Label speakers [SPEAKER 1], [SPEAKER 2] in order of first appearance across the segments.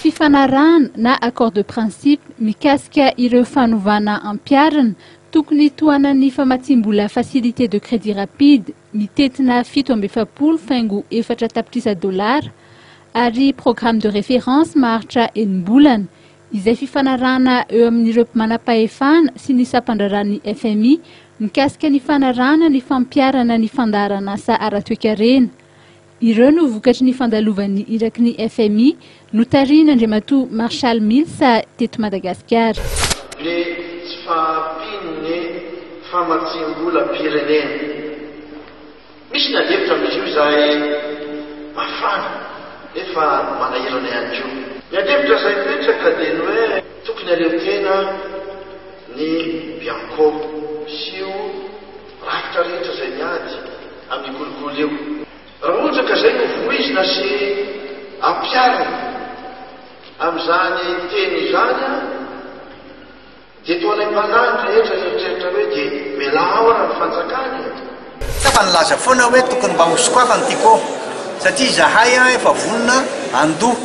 [SPEAKER 1] Fifanarahana na accord de principe mikasika ireo fanovana ampiharina tokony hitohanan'ny famatsiam-bola facilité de crédit rapide mitentina fito amby efapolo faingo efatra tapitrisa dolara ary programme de référence maharitra enim-bolana izay fifanarahana eo amin'ireo manampahefana sy ny sampandraharahan'ny fmi mikasika ny fanarahana ny fampiharana ny fandaharan'asa ara-toekarena. Ireo no vokatry ny fandalovan'ny iraky ny fmi notarihin'Andriamatoa Marshall Mills teto Madagasikara. Ny
[SPEAKER 2] tsy fahampian'ny famatsiam-bolam-pirenena. Misy ny adihevitra amin'izy io izay mafana nefa manahirana ihany koa. Ny adihevitra izay mipetraka dia ny hoe tokony haleho tena ny Bianco sy io rafitra rehetra izay miady amin'io kolikoly io. Raha ohatra ka izay no voizina sy ampiharina amin'izany teny izany an! Dia toa ilay mpanahy ny rehetra nieritreritra hoe dia mialà ao ary ny fanjakana e! Ka fa
[SPEAKER 3] nilaza foana hoe tokony mba ho sokafany ity ko satria izahay efa vonona handoa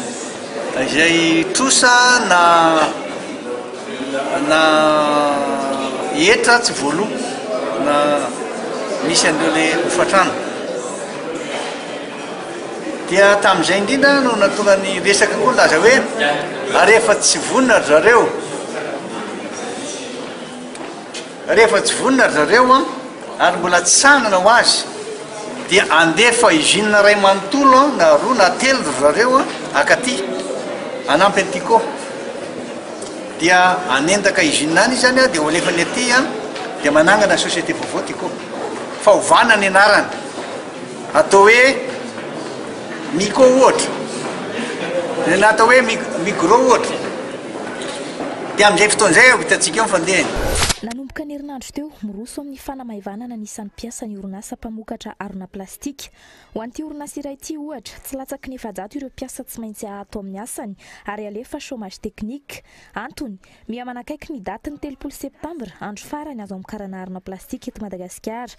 [SPEAKER 3] izay trosa na na hetra tsy voaloa na misy an'ireo le hofantrano. Dia tamin'izay indrindra no nahatonga ny resaka koa nilaza hoe, ary rehefa tsy vonona ry zareo, rehefa tsy vonona ry zareo ary mbola tsy sahanana ho azy, dia andefa usine iray manontolo na roa na telo ry zareo akaty hanampy an'ity ko. Dia hanendaka usine any izy any dia ho alefany aty dia manangana société vaovao ty ko. Fa ovana ny anarany. Atao hoe Miko ohatra, na atao hoe Migro ohatra, dia amin'izay fotoana izay vao hitantsika eo ny fandehany. Nanomboka ny
[SPEAKER 4] herinandro teo, miroso amin'ny fanamaivanana ny isan'ny mpiasa ny orinasa mpamokatra harona plastika. Ho an'ity orinasa iray ity, ohatra, tsy latsaky ny efajato ireo mpiasa tsy maintsy ato amin'ny asany ary alefa chômage technique. Antony, miha manakaiky ny datin'ny telopolo septambra, andro farany azo amokarana harona plastika eto Madagasikara.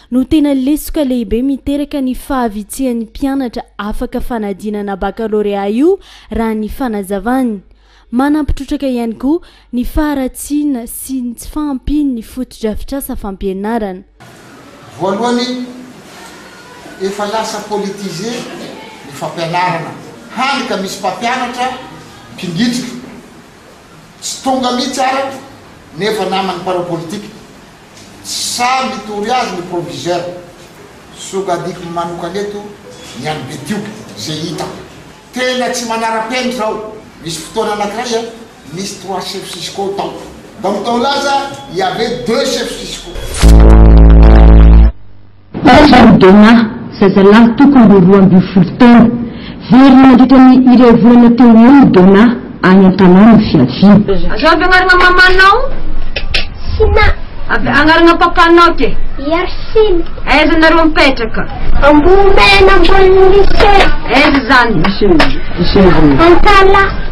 [SPEAKER 5] no tena lesoka lehibe miteraka ny fahavitsihan'ny mpianatra afaka fanadinana bakalorea io raha ny fanazavany. Manampy trotraka ihany koa ny faharatsiana sy ny tsy fahampian'ny fotodrafitrasa fampianarana. Voalohany,
[SPEAKER 6] efa lasa politiser ny fampianarana, hany ka misy mpampianatra mpingitrika, tsy tonga mihitsy araka nefa naman'ny mpanao politika. Sa mitory azy ny proviseur? Sokadiko manokana eto ny an'i Betioky izay hitako. Tena tsy manara-penitra aho. Nisy fotoana anakiray a, nisy trois chefs fiscaux tao. Ndao mitao laza il y avait deux chefs fiscaux.
[SPEAKER 7] Benjamin Donah, zazalahy tokony ho roa ambin'ny folo taona. Very nandritra ny iray volana teo ho eo i Donah, any an-tanàna ny fiaviany. Aza avy agnarana
[SPEAKER 8] mamanao
[SPEAKER 9] Sina. Avy
[SPEAKER 8] agnarana papanao ke. Yarsina.
[SPEAKER 9] Aiza nareo
[SPEAKER 8] mipetraka? Ambohimena
[SPEAKER 9] ambony Lycée. Aiza zany?
[SPEAKER 8] Antala.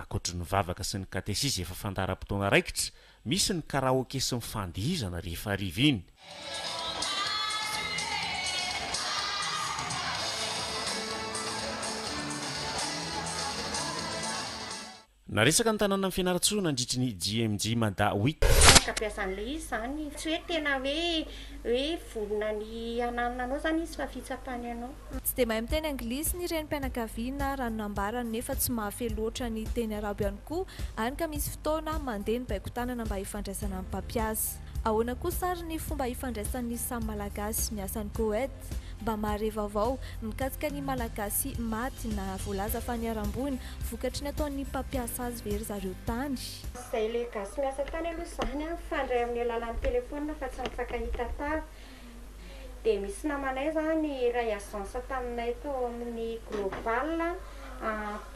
[SPEAKER 10] Ankoatry ny vavaka sy ny katesizy efa fandaharam-potoana raikitra, misy ny karaoke sy ny fandihizana rehefa hariva iny. Naresaka ny tanànan'i Fianarantsoa nandritry ny JMJ Mada Week. Afaka beazan'ilay izy
[SPEAKER 11] izany. Tsy hoe tena hoe hoe vonona ny hananona anao izany izy fa fitsapany anao. Tsy dia mahay miteny
[SPEAKER 4] anglisy ny renim-pianakaviana raha ny nambarany nefa tsy mahafehy loatra ny teny arabo ihany koa any ka misy fotoana mandeha ny baiko-tanana mba hifandraisana amin'ny mpampiasa. Ahoana
[SPEAKER 12] kosa ary ny fomba hifandraisan'ny samy Malagasy miasa any Koet? Mba mahare vaovao mikasika ny Malagasy maty na voalaza fa niharam-boina vokatry ny ataon'ny mpampiasa azy ve ry zareo tany? Tsy izay le gasy
[SPEAKER 11] miasa tany aloha izany an, mifandray amin'ny alalan'ny telephone fa tsy mifankahita tava. Dia misy namanay izany iray agence taminay tao amin'ny Global a,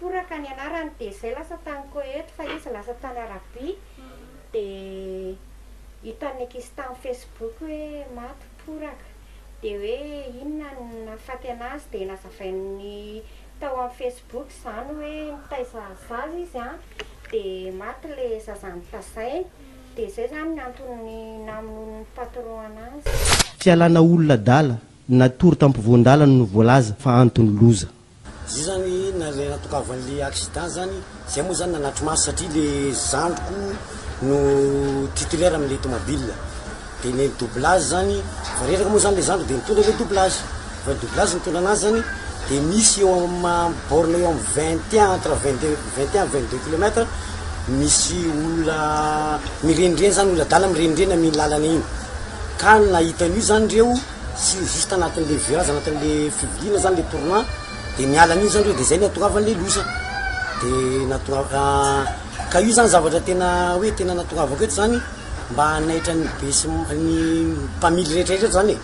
[SPEAKER 11] Poraka ny anarany, dia izay lasa tany Koety fa izy lasa tany Arabia, dia hitan'ny ankizy tamin'ny Facebook hoe maty Poraka, dia hoe inona no nahafaty anazy, dia nazavainy tao amin'ny Facebook izany hoe nitaiza zaza izy an, dia maty ilay zaza notazainy. Dia zay zany ny antony namonoany ny patron anazy. Fialana olona
[SPEAKER 13] adala, natory tampovoan-dalana no voalaza fa antony loza. Zay zany
[SPEAKER 14] nale natokavan'le accident zany, zay moa zany nanatri-maso satria le zandriko no titulaire amin'le tomabila, de nen'ny doublage zany, vao reraka moa zany le zandriko de nitondra le doublage. Raha doublage no tondra anazy zany dia misy eo amin'ny borne eo amin'ny vingt et un entre vingt deux vingt et un vingt deux kilomètre misy olona mirenireny zany olona adala mirenireny amin'iny lalana iny ka ny nahita an'io zany ireo sy juste anatin'le virage anatin'le fivoriana zany le tournant dia niala an'iny zany ireo dia zay no hahatongavan'le loza dia nahatonga ka io zany zavatra tena hoe tena nahatongavako eto zany mba hanaitra ny be sy ny mpamily rehetra rehetra eto zany e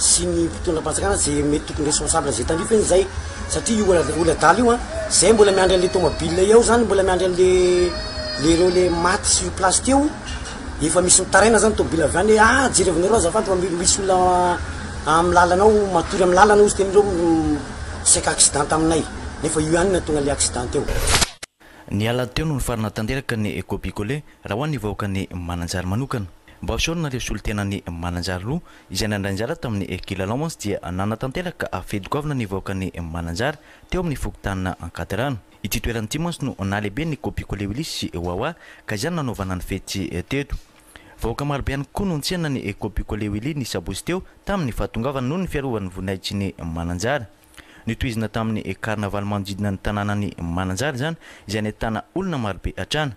[SPEAKER 14] sy ny mpitondram-panjakana ze mety tokony responsable an'izay tandrify anie zay satria io ola- oladala io a zay mbola miandry an'le tomobile eo zany mbola miandry an'le le reo le maty sur place teo efa misy mitaraina zany tomobile avy any hoe ah jerevinareo azafady fa mi- misy olona amin'ny lalana ao matory amin'ny lalana ozy tena ireo m- misaika accident taminay nefa io ihany no nahatonga le accident teo Ny alahady
[SPEAKER 15] teo no nifarana tanteraka ny copicoler raha ho an'ny vahoakan'i Mananjary manokana. Mba hosorana ireo solontenan'i Mananjary roa izay nandray anjara tamin'ny kilalao mantsy dia nanatanteraka fery goavana ny vahoakan'i Mananjary teo amin'ny fokontanina Ankadiraano. Ity toerana ity mantsy no nahalehibe ny copicoler Willis sy Wawa ka izany nanaovana ny fety teto. Vahoaka marobe ihany koa no nitsena ny copicoler Willy ny sabotsy teo tamin'ny fahatongavany noho ny fiarovan'ny voninahitry ny Mananjary. Notohizina tamin'ny karnavaly manodidina ny tanànan'i Mananjary izany, izay nahitana olona marobe hatrany.